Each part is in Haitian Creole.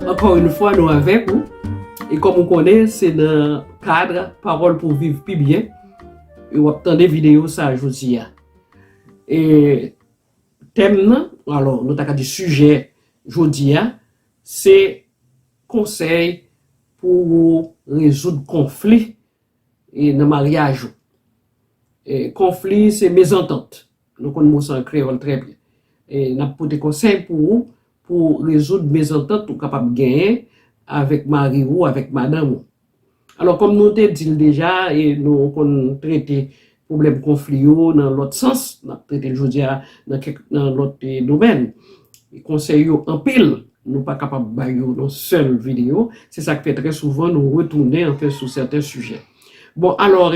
Ankò yn fwa nou avèk ou e kòm ou konnen se nan kadr pawòl pou viv pi byen e wap tande videyo sa jodi a e tèm nan alò nou ta ka di sijè jodi a se konsèy pou rezoud konfli e nan maryaj ou. Konfli se mezantant. Nou konn mo sa an kreyòl trè byen. E n ap pote konsèy pou ou pou w rezoud mezantant ou kapab genyen avèk mari ou, avèk madanm ou. Alò kòm nou te di l deja e nou konn trete Pwoblèm konfli yo nan lòt sans, n ap trete l jodi a nan kèk nan lòt domèn. Konsèy yo anpil, nou pa kapab bay yo nan sèl videyo, se sa k fè trè souvan nou retounen anfen sou sèten sijè. Bon alò,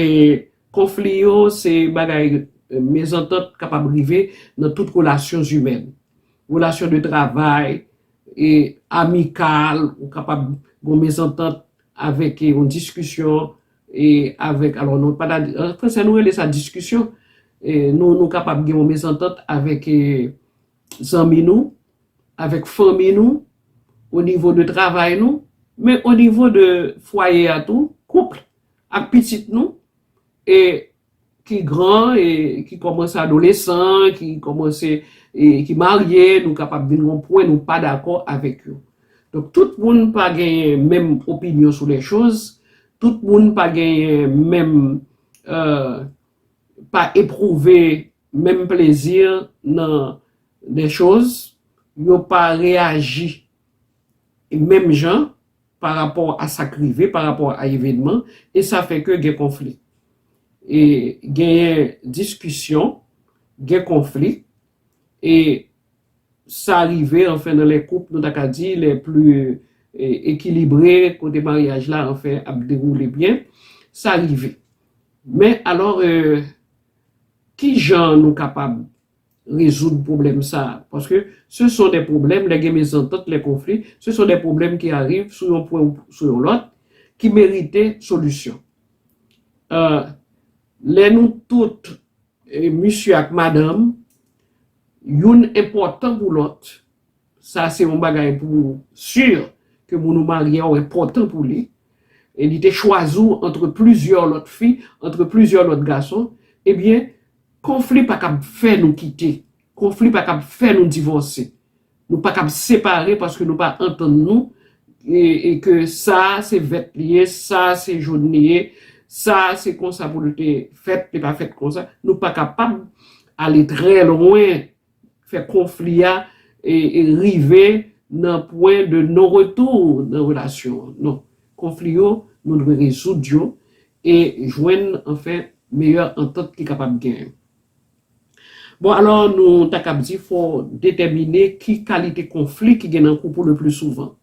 konfli yo se bagay mezantant kapab rive nan tout relasyon zimèn. Relasyon de travay, amikal, ou kapab gen yon mezantant avèk yon diskisyon E avèk, alò nou pa ta, an fransè nou rele sa diskisyon, e nou nou kapab gen yon mezantant avèk e zanmi nou, avèk fanmi nou, o nivo de travay nou, men o nivo de fwaye a tou, kouple, ak pitit nou, e ki gran e ki kòmanse adolesan, ki kòmanse e ki marye, nou kapab vin gon pwen nou pa dakò avèk yo. Donk tout moun pa genyen menm opinyon sou lè choz, tout moun pa genyen menm e pa epwouve menm plezi nan lè choz, yo pa reyaji menm jan. pa rapò a sa k rive, pa rapò a evenman, e sa fè ke gen konfli. E genyen diskisyon, gen konfli, e sa rive anfen nan lè koup nou ta ka di lè pli ekilibre, kote maryaj la anfen ap dewoule byen, sa rive. Men alò, ki jan nou kapab rezoud pwoblèm sa a. Paske se son dè pwoblèm, lè gen mezantant, lè konfli, se son dè pwoblèm ki ariv sou yon pwen ou sou yon lòt, ki merite solisyon. Lè nou tout, misye ak madanm, youn enpòtan pou lòt, Sa se yon bagay pou sur ke moun ou marye a ou enpòtan pou li e li te chwazi w antre plizyè lòt fi, antre plizyè lòt gason, ebyen konfli pa kab fè nou kite, konfli pa kab fè nou divòse, nou pa kab separe paske nou pa antann nou e ke sa se vèt li ye, sa se jòn li ye, sa se konsa pou l te fèt, li pa fèt konsa, nou pa kapab ale trè lwen. fè konfli a rive nan pwen de non retour nan relasyon an non konfli yo nou dwe rezoud yo e jwenn anfen meyè antant ki kapab gen bon alò nou ta kab di fò detèmine ki kalite konfli ki gen nan koup ou le pli souvan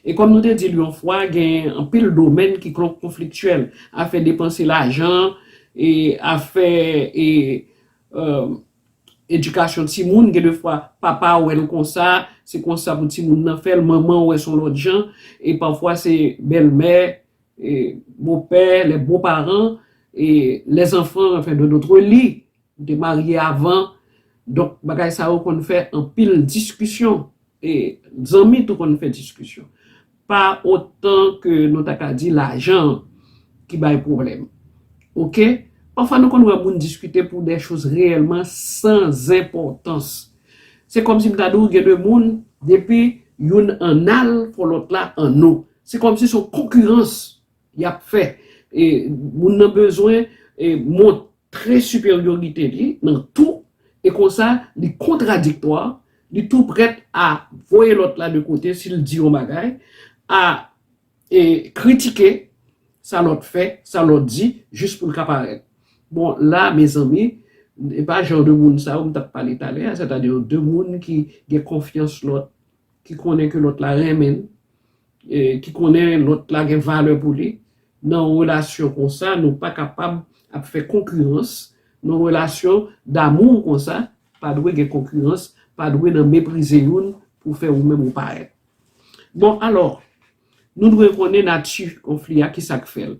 e kòm nou te dil yon fwa gen anpil domèn ki konfliktyèl afè depanse lajan e afè e. edikasyon timoun, gen de fwa papa a wè l konsa, se konsa pou timoun nan fè l, manman wè s on lòt jan, e pafwa se bèlmè, bopè, lè bo paran, e lèzanfan anfen de notre li, te marye avan, donk bagay sa yo konn fè anpil diskisyon. E zanmi tou konn fè diskisyon. Pa otan ke nou ta ka di lajan an ki bay pwoblèm. Oke? Pafwa nou konn wè moun diskite pou dè choz reyèlman san zenpòtans. Se kòmsi m ta di w gen de moun, depi youn ann al fò lòt la anno. Se kòmsi s on konkirans y ap fè. E moun nan bezwen monte. Tre siperyorite li nan tou e konsa li kontradiktwa, li tou prèt a voye lòt la de kote si l di yon bagay, a e kritike sa lòt fè, sa lòt di jis pou l ka parèt. Bon la mezanmi e pa jan de moun sa yo m t ap pale talè a sètadi de moun ki gen konfyans lòt ki konnen ke lòt la renmen l, ki konnen lòt la gen valè pou li, nan yon relasyon konsa nou pa kapab ap fè konkirans, nan yon relasyon damou konsa pa dwe gen konkirans, pa dwe nan meprize youn pou fè ou menm ou parèt. Bon alò, nou dwe konnen nati konfli a, kisa k fè l?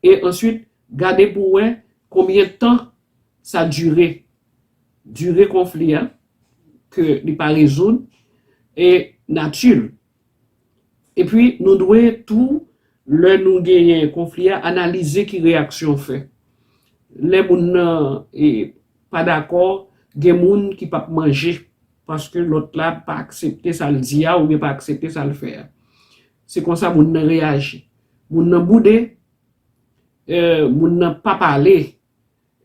E answit, gade pou wè konbyen tan sa dire. dire konfli a, ke li pa rezoud, e nati l. Epi nou dwe tou, lè nou genyen konfli a, analize ki reyaksyon fè. Lè moun nan pa dakò, gen moun ki p ap manje paske lòt la pa aksepte sa l di a oubyen pa aksepte sa l fè a. Se konsa moun nan reyaji. Moun nan boude, moun nan pa pale,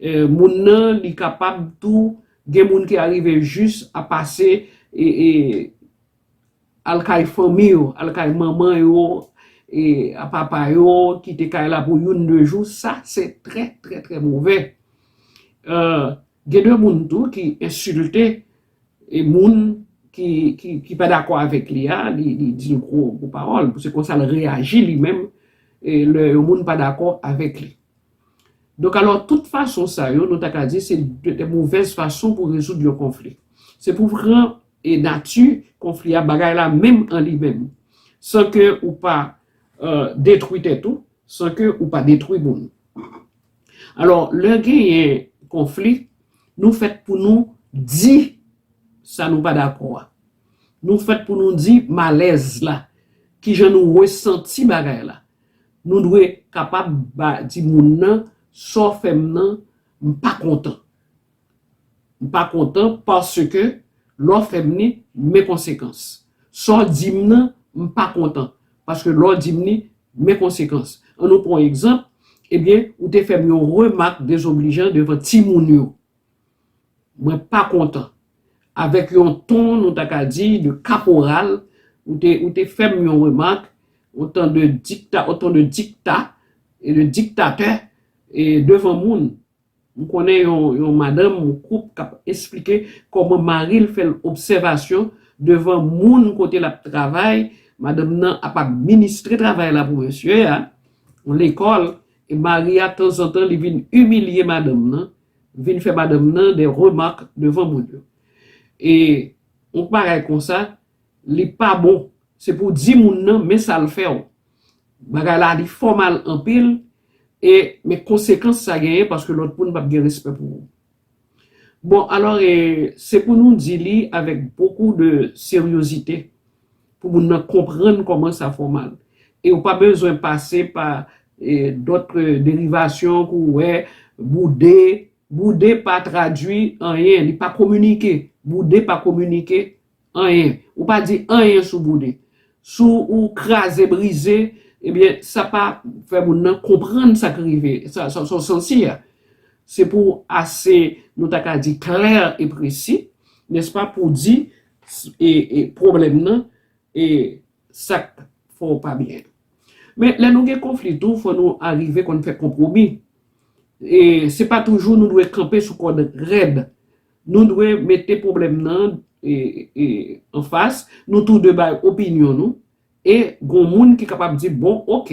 Moun nan li kapab tou gen moun ki arive jis a pase al kay fanmi yo, al kay manman yo e a papa yo kite kay la pou youn de jou sa se trè trè trè movè. Gen de moun tou ki ensilte e moun ki pa dakò avèk li a li di l gwo pawòl se konsa l reyaji li menm lè yon moun pa dakò avèk li. Donk alò, tout fason sa yo, nou ta ka di se de movèz fason pou rezoud yon konfli. Se pou pran nati konfli a, bagay la menm an li menm, san ke ou pa detwi tèt ou, san ke ou pa detwi moun. Alò, lè genyen konfli, nou fèt pou nou di sa nou pa dakò a. Nou fèt pou nou di malèz la, kijan nou resanti bagay la. Nou dwe kapab di moun nan, Sa w fè m nan, m pa kontan. M pa kontan paske lè w fè m li, men konsekans. Sa w di m nan, m pa kontan paske lè w di m li, men konsekans. An nou pran yon egzanp, Ebyen, ou te fè m yon remak dezoblijan devan timoun yo. Mwen pa kontan. Avèk yon ton nou ta ka di de kaporal, ou te ou te fè m yon remak, on ton de dikta on ton de dikta e de diktatè e devan moun. M konnen yon yon madanm yon koup k ap esplike kòman mari l fè l obsèvasyon devan moun kote l ap travay, madanm nan ap administre travay la pou mesye a, on lekòl e mari a tanzantan li vin imilye madanm nan. vin fè madanm nan des remarques devan moun yo e yon bagay konsa li pa bon se pou di moun nan men sa l fè w bagay la li fò mal anpil e men konsekans sa genyen paske lòt moun pap gen respè pou ou bon alò e se pou nou di li avèk bokou de seryozite pou moun nan konprann kòman sa fòmal e ou pa bezwen pase pa dòt derivasyon pou ou wè boude, boude pa tradui anyen, li pa kominike, boude pa kominike anyen, ou pa di anyen sou boude, sou ou kraze brize ebyen sa pa fè moun nan konprann sa k rive, sa ou santi a se pou ase nou ta ka di klè e presi nèspa pou di pwoblèm nan e sak fè w pa byen. Men lè nou gen konfli tou fò nou arive konn fè konpwomi e se pa toujou nou dwe kanpe sou kòd rèd. Nou dwe mete pwoblèm nan anfas, nou tou de bay opinyon nou E gon moun ki kapab di, bon, ok,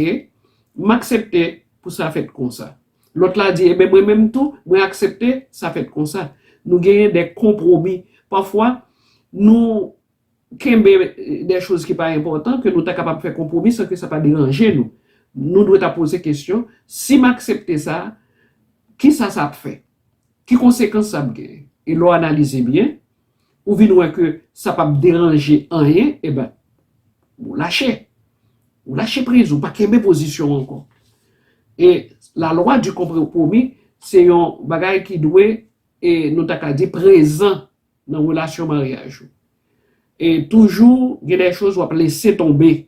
m aksepte pou sa fèt konsa. Lòt la di, eben mwen menm tou, mwen aksepte sa fèt konsa. Nou genyen de konpwomi. Pafwa, nou kenbe de choz ki pa enpòtan ke nou ta kapab fè konpwomi san ke sa pa deranje nou. Nou dwe ta poze kesyon, si m aksepte sa, kisa sa ap fè? Ki konsekans sa ap genyen? E lè w analize byen. ou vin wè ke sa pap deranje anyen, eben, ou lache. Ou lache priz, ou pa kenbe pozisyon ankò. E la lwa di konpwomi, se yon bagay ki dwe, e nou ta ka di prezan nan relasyon maryaj ou. E toujou gen de choz wap lese tonbe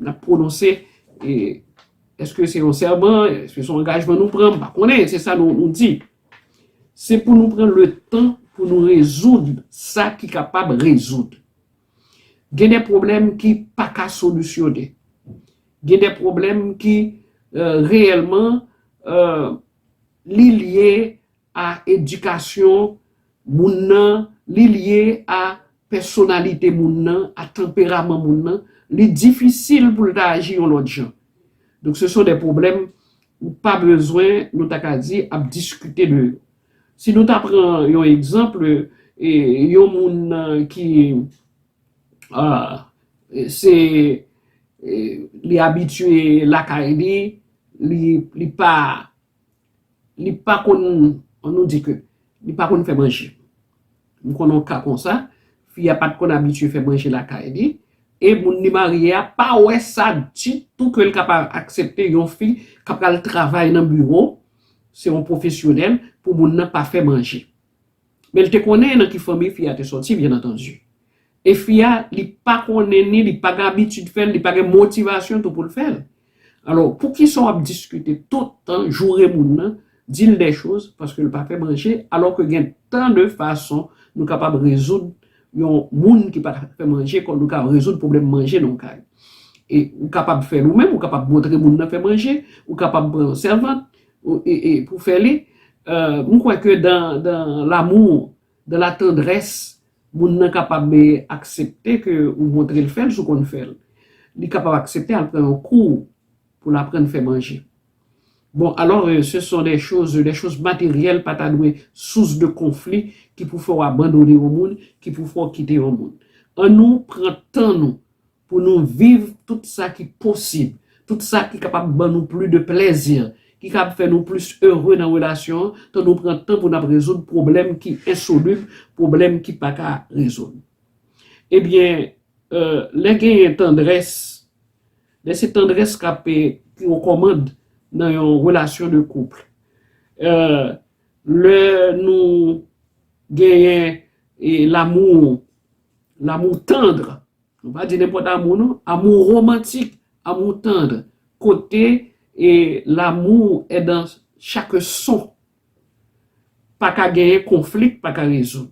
Nap prononse eske se yon sèman, eske se yon angajman nou pran, m pa konnen, se sa nou di. Se pou nou pran le tan pou nou rezoud sa ki kapab rezoud. Gen de pwoblèm ki pa ka solisyone. Gen de pwoblèm ki reyèlman li lye a edikasyon moun nan, li lye a pèsonalite moun nan, a tanperaman moun nan, li difisil pou l ta aji yon lòt jan. Donk se son de pwoblèm ou pa bezwen, nou ta ka di, ap diskite de yo. Si nou ta pran yon egzanp, yon moun ki se li abitye lakay li, li pa Li pa konn an nou di ke li pa konn fè manje. M konn yon ka konsa, fi a pat konn abitye fè manje lakay li e moun li marye a pa wè sa ditou ke l ka pa aksepte yon fi k ap pral travay nan biwo, se yon pwofesyonèl pou moun nan pa fè manje. Men li te konnen nan ki fanmi fi a te sòti byen antandi. E fi a li pa konnen ni li pa gen abitid fè l, li pa gen motivasyon tou pou l fè l. Alò, poukisa w ap diskite tout tan, joure moun nan, di l dè choz paske l pa fè manje alò ke gen tan de fason nou kapab rezoud yon moun ki pa ka fè manje kòm nou ka rezoud pwoblèm manje nan yon kay. E ou kapab fè l ou menm, ou kapab montre moun nan fè manje, ou kapab pran yon sèvant, pou fè li m kwè ke dan l'amour dan la tendresse moun nan kapab aksepte ke ou montre l fè l si w konn fè l li kapab aksepte al pran yon kou pou l aprann fè manje bon alò se son de choz de choz materyèl pa ta dwe sous de konfli ki pou fè w abandone yon moun ki pou fè w kite yon moun an nou pran tan nou Pou nou viv tout sa ki posib, tout sa ki kapab ban nou pli de plèzi, ki kab fè nou plis ere nan relasyon an, tan nou pran tan pou n ap rezoud pwoblèm ki ensolib, pwoblèm ki pa ka rezoud. Ebyen, lè genyen tandrès, lè se tandrès k ap ki o kòmand nan yon relasyon de kouple, lè nou genyen lamou, lamou tandre, Nou pa di nenpòt amou non, amou romantik, amou tandr, kote e l'amour est dans chaque son. Pa ka genyen konfli k pa ka rezoud.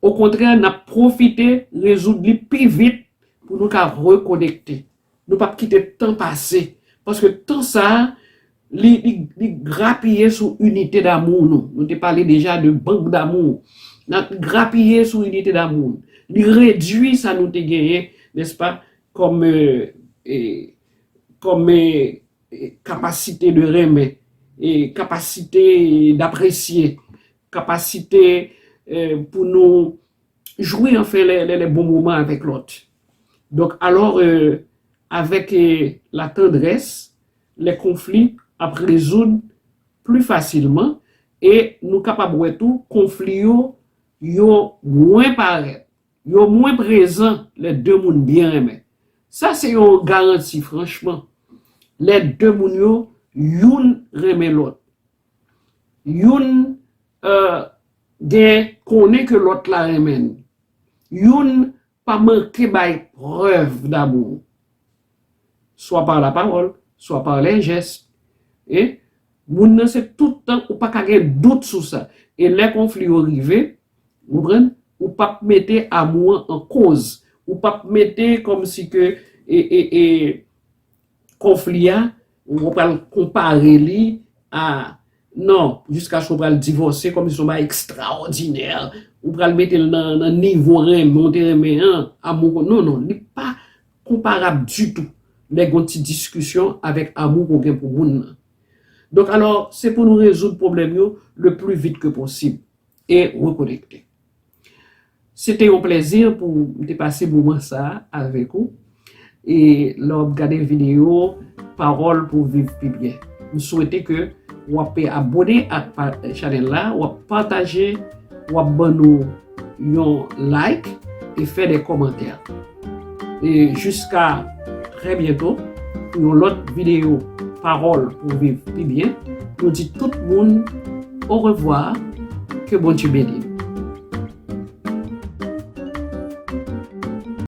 Okontrè, n'ap pwofite rezoud li pi vit pou nou ka rekonekte. Nou pap kite tan pase, paske tan sa a, li, li, li grapiye sou inite damou nou. Nou te pale deja de bank damou. N ap grapiye sou inite damou nou. Li redui sa nou te genyen, nèspa, kòm, e, kòm, e, kapasite de renmen, e, kapasite dapresye, kapasite, e, pou nou. Jwi anfen lè lè bon moman avèk lòt. Donk alò avèk la tandrès lè konfli ap rezoud pli fasilman e nou kapab wè tou konfli yo yo mwen parèt, yo mwen prezan lè de moun byen renmen. Sa se yon garanti franchman lè de moun yo youn renmen lòt, youn Ahh gen konnen ke lòt la renmen n. Youn pa manke bay prèv damou. Swa par la parole, swa par les gestes. E moun nan se tout tan ou paka gen dout sou sa. E lè konfli yo rive, konprann, ou pap mete amou an an koz. Ou pap mete kòm si ke e e e. Konfli a, ou pral konpare li a non, jiskaske ou pral divòse kòm si se yon bagay ekstraòdinè, ou pral mete l nan nivo renmen ou te renmen an, amou ke w non non, li pa konparab ditou lè gen yon ti diskisyon avèk amou ke w gen pou moun nan. Donk alò, se pou nou rezoud pwoblèm yo le pli vit ke posib e rekonekte. Se te yon plèzi pou m te pase moman sa a avèk ou. E lè w ap gade videyo Pawòl pou viv pi byen, m swete ke w ap abone ak chanèl la, w ap pataje, w ap ban nou yon like e fè de kòmantè. E jiska trè byento pou yon lòt videyo Pawòl pou viv pi byen, nou di tout moun orevwa, ke Bondye beni nou.